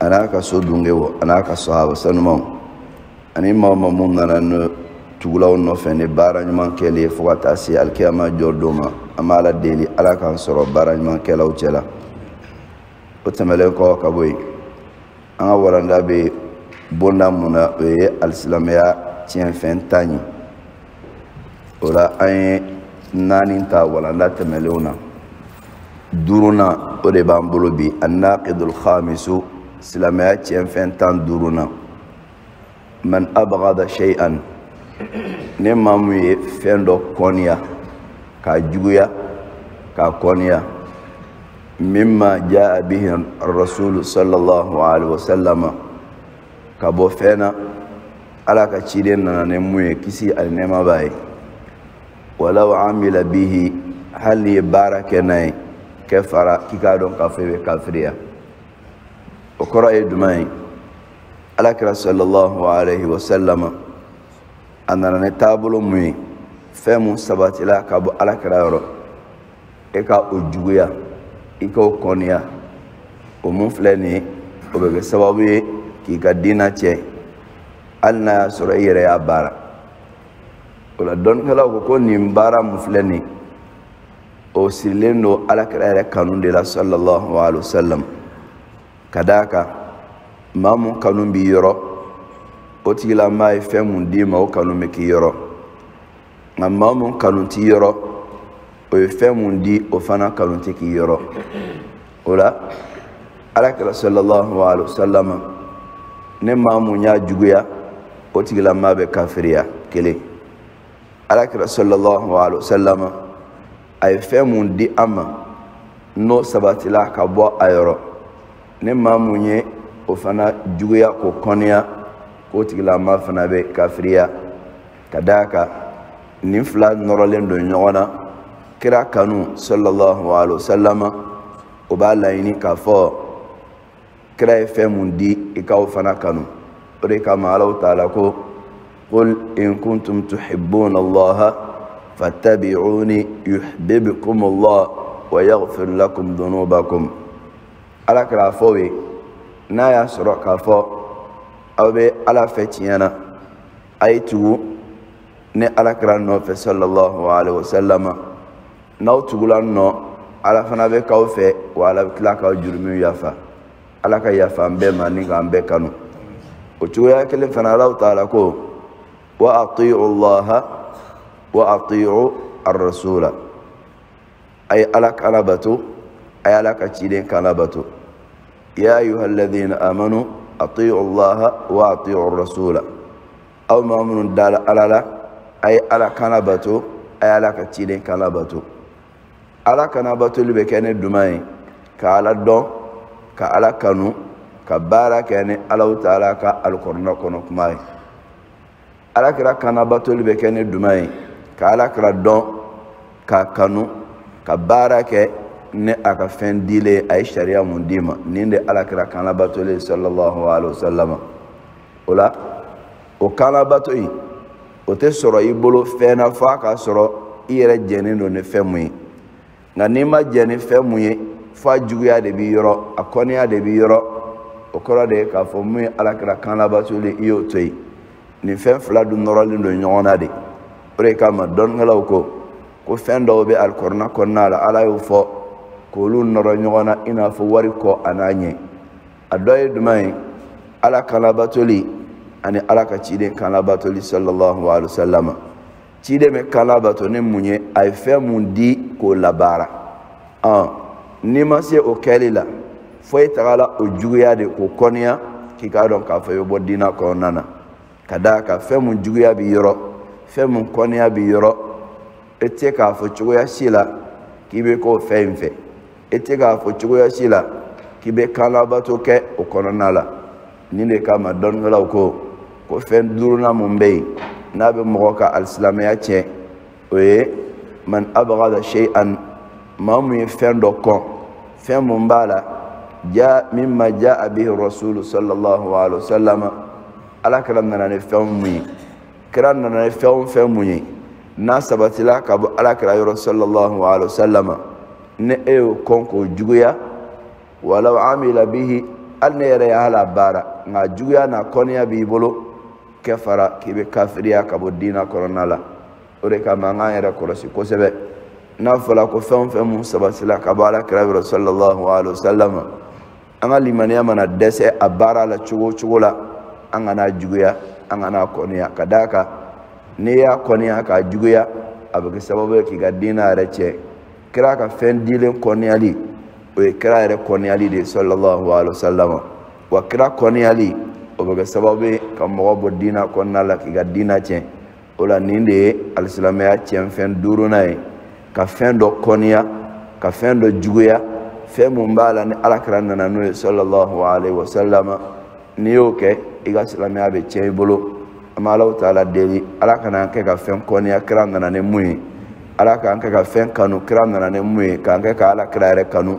a n'a ka so dunke o a n'a ka sahaba sanumanw ani maa o maa mun nana ne tugula u nɔfɛ ni baara ɲuman kɛli ye fo ka taa se alikiyama jɔ don ma an b'ala deli ala k'an sɔrɔ baara ɲuman kɛlaw cɛ la o tɛmɛlen kɔ ka bɔ yen an ka walanda bɛ bonda mun na o ye alisilamɛya tiɲɛfɛn tan ye o la an ye naani ta walanda tɛmɛnlenw na duurunan o de b'an bolo bi annaqidul khamisu silamɛya tiɲɛfɛn tan duurunan man abghada shay'an ni maa mun ye fɛn dɔ kɔniya k'a juguya k'a kɔniya mimma jaa bihi rasulu sallallahu alaihi wasallama ka bɔ fɛn na ala ka ciden nana ni mun ye kisi ani nɛɛma b'a ye walaw amila bihi hali n'i ye baara kɛ n'a ye kafara k'i k'a dɔn k'a fɔ i bɛ kafiriya o kɔrɔ ye jumɛn ye alakira sallallahu alaihi wa sallama a nana ni taabolo mun ye fɛn mun sabatila ka bɔ alakira yɔrɔ e ka o juguya i k'o kɔniya o mun filɛ nin ye o bɛ kɛ sababu ye k'i ka diina tiɲɛ hali n'a y'a sɔrɔ i yɛrɛ y'a baara o la dɔnnikɛlaw ko ko nin baara mun filɛ nin o sirilen don alakira yɛrɛ kanu de la sallallahu alaihi wa sallam ka d'a kan maa mun kanu b'i yɔrɔ o tigilamaa ye fɛn mun d'i ma o kanu bɛ k'i yɔrɔ nka maa mun kanu t'i yɔrɔ o ye fɛn mun di o fana kanu tɛ k'i yɔrɔ o la alakira sallallahu alaihi wasallam ni maa mun y'a juguya o tigilamaa bɛ kafiriya kelen alakira sallallahu alaihi wasallam a ye fɛn mun di an ma n'o sabatila ka bɔ a yɔrɔ ni maa mun ye o fana juguya k'o kɔniya k'o tigilamaa fana bɛ kafiriya ka d'a kan nin fila nɔrɔlen don ɲɔgɔn na kira kanu sallallahu alaihi wasallama o b'a laɲini k'a fɔ kira ye fɛn mun di i ka o fana kanu o de kama allahu taala ko qul in kuntum tuhibbuna allaha fattabi'uni yuhbibkum allah wa yaghfir lakum dhunubakum alakira a fɔ u ye n'a y'a sɔrɔ k'a fɔ aw bɛ ala fɛ tiɲɛ na a ye tugu ne alakira nɔfɛ sallallahu alaihi wasallama n'aw tugula n nɔ ala fana bɛ k'aw fɛ wa ala bɛ tila k'aw jurumiw yafa ala ka yafa an bɛɛ ma ni k'an bɛɛ kanu o cogoya kelen fana allahu taala ko wa atiu llaha wa atiu arrasula a ye ala kan labato a ye ala ka ciden kan labato ya ayuha alladina amanu atiu allaha wa atiu rasula aw maa minnu dala ala la a ye ala kan labato a ye ala ka ciden kan labato ala kan labatoli bɛ kɛ ni duman ye ka ala dɔn ka ala kanu ka baara kɛ ni ala taala ka alikɔrɔna kɔnɔ kuma ye alakira kan labatoli bɛ kɛ ni duma ye ka alakira dɔn k'a kanu ka baara kɛ ni a ka fɛn dilen ye a ye sariya mun d'i ma nin de alakira kan labatoli ye sallallahu alaihi wa sallam o la o kan labato in o tɛ sɔrɔ i bolo fɛn na f'a ka sɔrɔ i yɛrɛ jɛnen don ni fɛn mun ye nka n'i ma jɛ ni fɛn mun ye fo a juguya de b'i yɔrɔ a kɔniya de b'i yɔrɔ o kɔrɔ de ye k'a fɔ mun ye alakira kan labatoli i y'o to yen nin fɛn fila dun nɔrɔlen don ɲɔgɔn na de o de kama dɔnnikɛlaw ko ko fɛn dɔw bɛ alikɔrɔna kɔnɔna la ala y'o fɔ k'olu nɔrɔ ɲɔgɔn na i n'a fɔ wari kɔ a n'a ɲɛ a dɔ ye jumɛn ye ala kan labatoli ani ala ka ciden kan labatoli sallallahu alaihi wa sallam ciden bɛ kan labato ni mun ye a ye fɛn mun di k'o labaara ɔn n'i ma se o kɛli la fo e tagala o juguya de k'o kɔniya k'i k'a dɔn k'a fɔ i bɛ bɔ diinɛ kɔnɔna na ka d'a kan fɛn mun juguya b'i yɔrɔ fɛn mun kɔniya b'i yɔrɔ e tɛ k'a fɔ cogoya si la k'i bɛ k'o fɛn in fɛ e tɛ k'a fɔ cogoya si la k'i bɛ kan labato kɛ o kɔnɔna la nin de kama dɔnnikɛlaw ko ko fɛn duurunan mun bɛ yen n'a bɛ mɔgɔ ka alisilamɛya tiɲɛ o ye man abgada shay'an maa mun ye fɛn dɔ kɔn fɛn mun b'a la ja mimma ja'a bihi rasulu sallallahu alaihi wa sallam alakira nana ni fɛn mun ye kira nana ni fɛn o fɛn mun ye n'a sabatila ka bɔ ala kira yɔrɔ sallallahu alaihi wasallam ni e y'o kɔn k'o juguya walaw amila bihi hali n'e yɛrɛ y'a labaara nka juguya n'a kɔniya b'i bolo kafara k'i bɛ kafiriya ka bɔ diina kɔnɔna la o de kama an k'an yɛrɛ kɔlɔsi kosɛbɛ n'a fɔla ko fɛn o fɛn mun sabatila ka bɔ ala kira yɔrɔ sallallahu alaihi wasallam an ka limaniya mana dɛsɛ a baara la cogo o cogo la an kana a juguya an kana a kɔniya ka d'a kan n'i y'a kɔniya k'a juguya a bɛ kɛ sababu ye k'i ka diinɛ yɛrɛ tiɲɛ kira ka fɛn dilen kɔniyali o ye kira yɛrɛ kɔniyali de ye sallallahu alaihi wa sallam wa kira kɔniyali o bɛ kɛ sababu ye ka mɔgɔ bɔ diinɛ kɔnɔna la k'i ka diinɛ tiɲɛ o la nin de ye alisilamɛya tiɲɛfɛn duurunan ye ka fɛn dɔ kɔniya ka fɛn dɔ juguya fɛn mun b'a la ni alakira nana n'o ye sallallahu alaihi wa sallama n'i y'o kɛ i ka silamɛya bɛ tiɲɛ i bolo an bɛ ala taala deli ala kan'an kɛ ka fɛn kɔniya kira nana ni mun ye ala k'an kɛ ka fɛn kanu kira nana ni mun ye k'an kɛ ka alakira yɛrɛ kanu